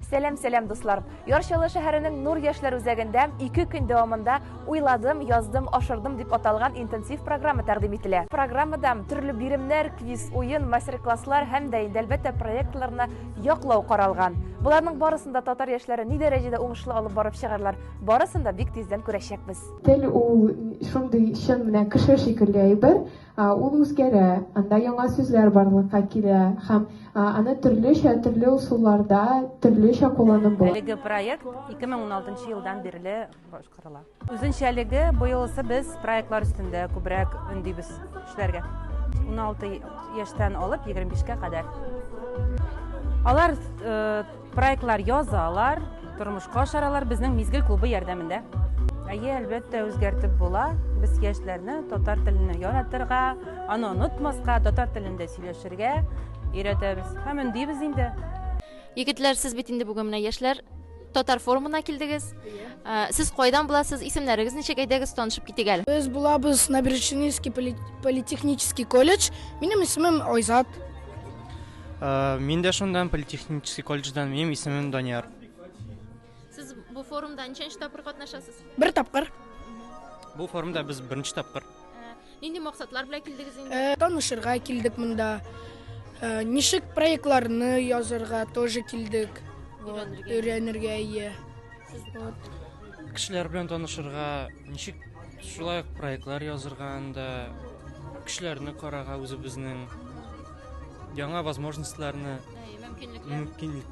Сәләм, сәләм, дуслар! Ярчалы шәһәренең Нур яшьләр үзәгендә ике көн дәвамында Уйладым, яздым, ашырдым дип аталган интенсив программа тәкъдим ителә. Программада төрле биремнәр, квиз, уен, мастер-класслар һәм дә инде әлбәттә проектларны яклау каралган. Боларның барысын да татар яшьләре ни дәрәҗәдә уңышлы алып барып чыгарлар, барысын да бик тиздән күрәчәкбез. Тел ул шундый чын менә кеше шикелле әйбер. Ул үзгәрә, анда яңа сүзләр барлыкка килә һәм аны төрлечә, төрле ысулларда төрлечә кулланып була. Әлеге проект 2016 елдан бирле башкарыла. Үзенчәлеге, быелысы без проектлар өстендә күбрәк өндибез эшләргә. 16 яшьтән алып 25 кә кадәр. Алар Проектлар язалар, тормышка ашаралар безнең Мизгел клубы ярдәмендә. Әйе, әлбәттә, үзгәртеп була. Без яшьләрне татар телене яратырга, аны онытмаска, татар телендә сөйләшергә өйрәтәбез. Һәм өндибез инде. Егетләр, сез бит инде бүген менә яшьләр татар форумына килдегез. Ә, Сез кайдан буласыз? Исемнәрегез ничек? Әйдәгез, танышып китик әле. Без булабыз Набережнинский поли- политехнический колледж. Минем исемем Айзат. Мин дә шундан, политехнический колледждан, минем исемем Данияр. Сез бу форумда ничәнче тапкыр катнашасыз? Бер тапкыр. Бу форумда без беренче тапкыр. Нинди максатлар белән килдегез инде? Э, танышырга килдек монда. Э, ничек проектларны язырга тоже килдек. Өйрәнергә. Өйрәнергә, иә. Сез вот. Кешеләр белән танышырга, ничек Шулай ук проектлар язырга анда кешеләрне карага үзебезнең яңа возможностьларны мөмкинлек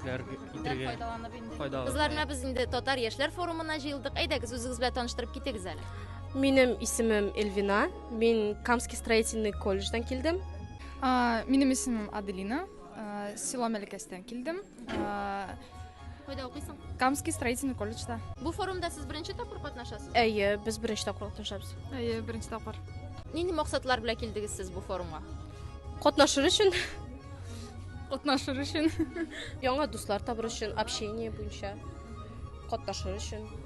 файдаланып инде. Кызлар менә без инде татар яшьләр форумына җыелдык. Әйдәгез, үзегез белән таныштырып китегез әле. Минем исемем Эльвина. Мин Камский строительный колледждан килдем. Минем исемем Аделина. Село Мәлкәстән килдем. Кайда укыйсың? Камский строительный колледжда. Бу форумда сез беренче тапкыр катнашасыз? Әйе, без беренче тапкыр катнашабыз. Әйе, беренче тапкыр. Нинди максатлар белән килдегез сез бу форумга? Катнашыр өчен. Катнашыр өчен. Яңа дуслар табыр өчен, общение буенча. Катнашыр өчен.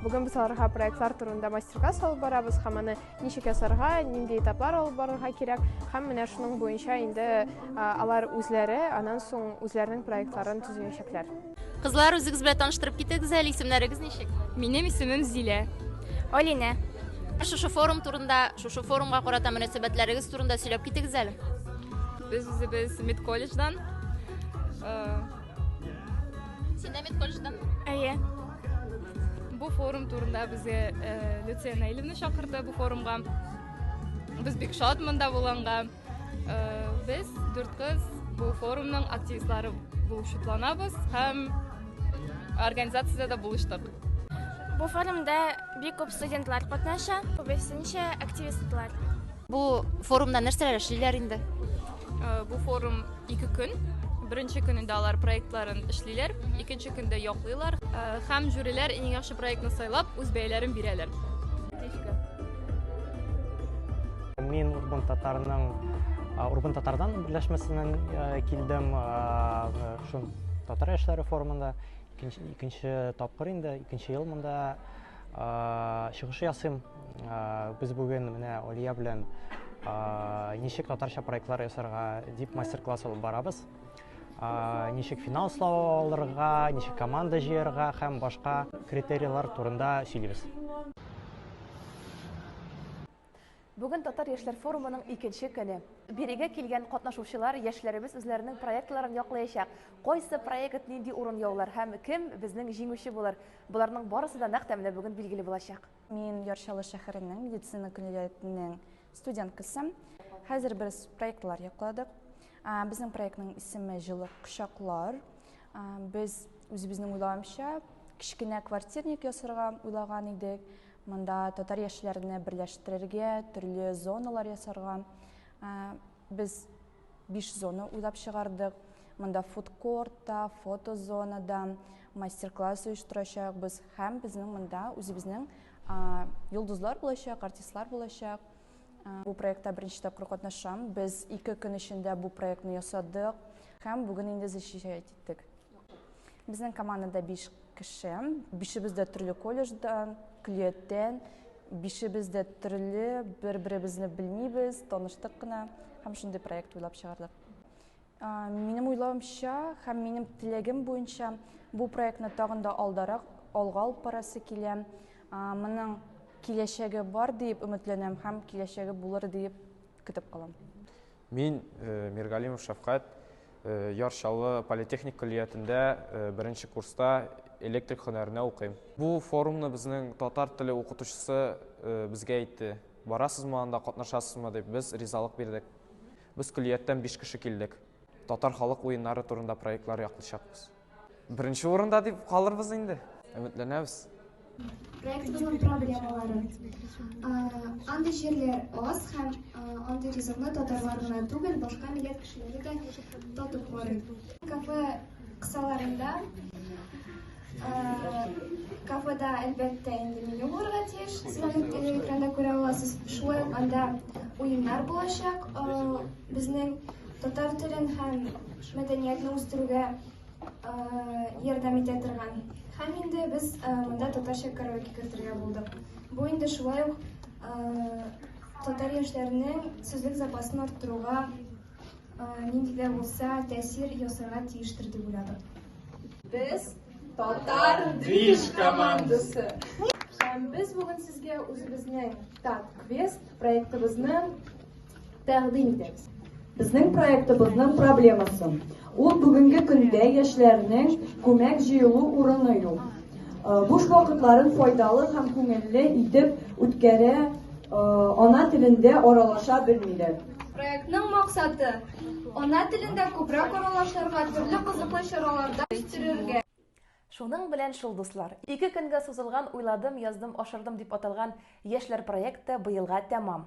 Бүген без аларга проектлар турында мастер-класс алып барабыз һәм аны ничек ясарга, нинди этаплар алып барырга кирәк һәм менә шуның буенча инде алар үзләре аннан соң үзләренең проектларын төзеячәкләр. Кызлар, үзегез белән таныштырып китегез әле, исемнәрегез ничек? Минем исемем Зилә. Алинә. Шушы форум турында, шушы форумга карата мөнәсәбәтләрегез турында сөйләп китегез әле. Без үзебез медколледждан Син дә медколледждан? Әйе. Бу форум турында безгә э, Люция Наилевна чакырды бу форумга. Без бик шат монда булганга. Э, без дүрт кыз бу форумның активистлары булып шатланабыз һәм организациядә дә булыштык. Бу форумда бик күп студентлар катнаша, күбесенчә активистлар. Бу форумда нәрсәләр эшлиләр инде? Э, бу форум ике көн. Беренче көнендә алар проектларын эшлиләр, икенче көндә яклыйлар э, һәм жюриләр иң яхшы проектны сайлап үз бәяләрен бирәләр. Мин Урбан татарының Урбан татардан берләшмәсеннән э, килдем. Шул татар яшьләре форумында икенче тапкыр инде, икенче ел монда чыгыш ясыйм. Без бүген менә Олия белән ничек татарча проектлар ясарга дип мастер-класс алып барабыз. Ничек финал слова алырга, ничек команда җыярга һәм башка критерийлар турында сөйлибез. Бүген татар яшьләр форумының икенче көне. Бирегә килгән катнашучылар яшьләребез үзләренең проектларын яклаячак. Кайсы проект нинди урын яулар һәм кем безнең җиңүче булыр? Боларның барысы да нәкъ тәменә бүген билгеле булачак. Мин Яр Чаллы шәһәренең медицина көллиятенең студенткасы. Хәзер без проектлар якладык. Безнең проектның исеме Җылы кочаклар. Без үзебезнең уйлавымча кечкенә квартирник ясарга уйлаган идек. Монда татар яшьләрне берләштерергә, төрле зоналар ясарга. Без Биш зона уйлап чыгардык. Монда фудкорт та, фотозона да, мастер-класс оештырачакбыз һәм безнең монда үзебезнең йолдызлар булачак, артистлар булачак. Бу проектта беренче тапкыр катнашам. Без ике көн эчендә бу проектны ясадык һәм бүген инде защищать киттек. Безнең командада биш кеше. Бишебез дә төрле колледждан, көллияттән, бишебез дә төрле, бер-беребезне белмибез, таныштык кына һәм шундый проект уйлап чыгардык. Минем уйлавымча һәм минем теләгем буенча бу проектны тагын да алдарак алга алып барасы килә. Моның киләчәге бар диеп өметләнәм һәм киләчәге булыр диеп көтеп калам. Мин, Миргалимов Шәфкать, Яр Чаллы политехник көллиятендә беренче курста электрик һөнәренә укыйм. Бу форумны безнең татар теле укытучысы безгә әйтте. Барасызмы анда, катнашасызмы дип, без ризалык бирдек. Без көллияттән биш кеше килдек. Татар халык уеннары турында проектлар яклыйчакбыз. Беренче урында дип калырбыз инде. Өметләнәбез. Проектыбызның проблемалары. Андый җирләр аз һәм андый ризыкны татарлар гына түгел, башка милләт кешеләре дә татып карый. Кафе кысаларында кафеда, әлбәттә, инде меню булырга тиеш. Сез аны экранда күрә аласыз. Шулай ук анда уеннар булачак. Безнең татар телен һәм мәдәниятне үстерүгә ярдәм итә торган. Һәм инде без монда татарча караоке кертергә булдык. Бу инде шулай ук татар яшьләренең сүзлек запасын арттыруга нинди дә булса тәэсир ясарга тиештер дип уйладык. Без татар движ командасы. Һәм без бүген сезгә үзебезнең Тат Квест проектыбызның Тәкъдим итәбез. Безнең проектыбызның проблемасы. Ул бүгенге көндә яшьләрнең күмәк җыелу урыны юк. Э, буш вакытларын файдалы һәм күңелле итеп үткәрә, э, ана телендә аралаша белмиләр. Проектның максаты ана телендә күбрәк аралашырга, төрле кызыклы чараларда үстерергә. Шуның белән шул дуслар, ике көнгә сузылган Уйладым, яздым, ашырдым дип аталган яшьләр проекты быелга тәмам.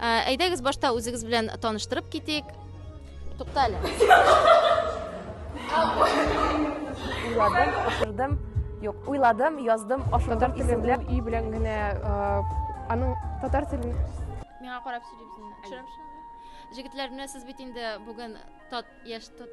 Ә, әйдәгез башта үзегез белән таныштырып китик. Тукта әле. Уйладым, ашырдым. Юк, уйладым, яздым, ашырдым. Татар телен өй белән генә аның татар телен миңа карап сөйлибез. Төшерәм шуны. Җегетләр, менә сез бит инде бүген тат яшь тат